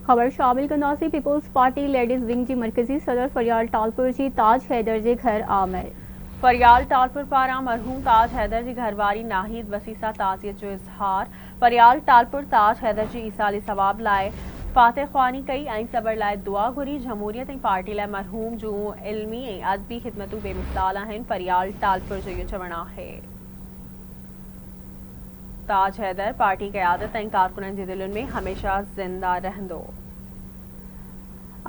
خبر شامل ڪنداسين پيپلز پارٽي ليڊيز ونگ جي مرڪزي صدر فريال ٽالپر جي تاج حيدر جي گهر آمر. فريال ٽالپر پاران مرحوم تاج حيدر جي گهر واري ناهيد وسيع سان تعزيت جو اظهار، فريال ٽالپر تاج حيدر جي ايصال ثواب لاء فاتح خواني ڪئي ۽ صبر لاء دعا گهري، جمهوريت ۽ پارٽي لاء مرحوم جون علمي ۽ ادبي خدمتون بي مثال آهن، فريال ٽالپر جو اهو چوڻ آهي. تاج حيدر پارٽي قيادت ۽ ڪارڪنن جي دلين ۾ هميشه زنده رهندو.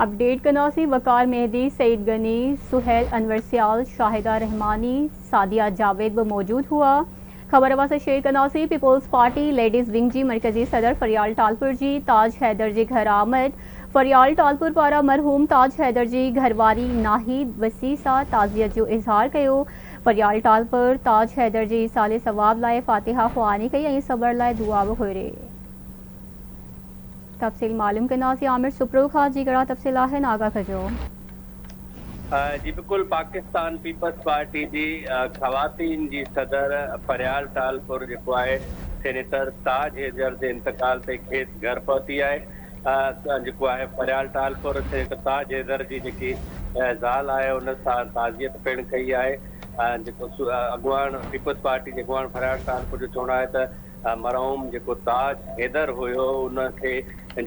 اپڊيٽ ڪنداسين وقار مهدي، سعيد غني، سهيل انور سيال، شاهده رحماني، سعديه جاويد به موجود هئا. خبر اوهان سان شيئر ڪنداسين پيپلز پارٽي ليڊيز ونگ جي مرڪزي صدر فريال ٽالپر جي تاج حيدر جي گهر آمد، فريال ٽالپر پاران مرحوم تاج حيدر جي گهرواري ناهيد وسيع سان تعزيت جو اظهار ڪيو. پريال ٽالپر تاج حيدر جي ايصال ثواب لاء فاتحه خواني ڪئي ۽ صبر لاء دعا به گهري تفصيل معلوم ڪنداسين عامر سپرو کان جي ڪهڙا تفصيل آهن آگاهه ڪجو. جي بلڪل پاڪستان پيپلز پارٽي جي خواتين جي صدر پريال ٽالپر جيڪو آهي سينيٽر تاج حيدر جي انتقال تي کيس گهر پهتي آهي جيڪو آهي فريال ٽالپر اتي هڪ تاج حيدر جي جيڪي زال آهي ان سان تعزيت پڻ ڪئي آهي جيڪو اڳواڻ پيپلز پارٽي جي اڳواڻ فريال ٽالپر جو چوڻ آهي ته مرحوم جيڪو تاج حيدر هيو ان کي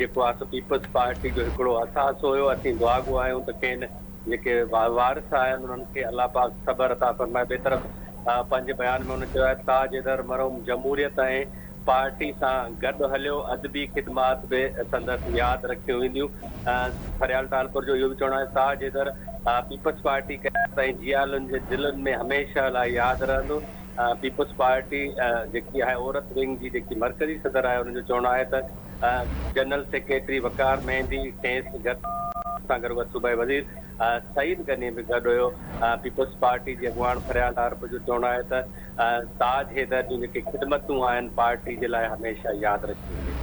جيڪو آهي سو پيپلز پارٽي جو هڪڙو اثاث هيو اسين دعاگو آهيون ته کين جيڪي وارث آهن انهن کي الله پاڪ صبر عطا فرمائي ٻئي طرف پنهنجي بيان ۾ ان چيو آهي تاج حيدر مرحوم جمهوريت ۽ پارٽي سان گڏ هليو، ادبي خدمات به سندس ياد رکيون وينديون. فريال ٽالپر جو اهو به چوڻ آهي ساهه جيتر پيپلز پارٽي قيادت ۽ جيالن جي دلن ۾ هميشه لاء ياد رهندو. پيپلز پارٽي جيڪي آهي عورت ونگ جي جيڪي مرڪزي صدر آهي ان جو چوڻ آهي ته جنرل سيڪريٽري وقار مهندي کيس گڏ سان گڏ وت صوبائي وزير سعيد غني به گڏ هيو. پيپلز پارٽي جي اڳواڻ فريال ٽارپر جو چوڻ آهي ته تاج حيدر جون جيڪي خدمتون آهن پارٽي جي لاء هميشه ياد رکيون وڃن.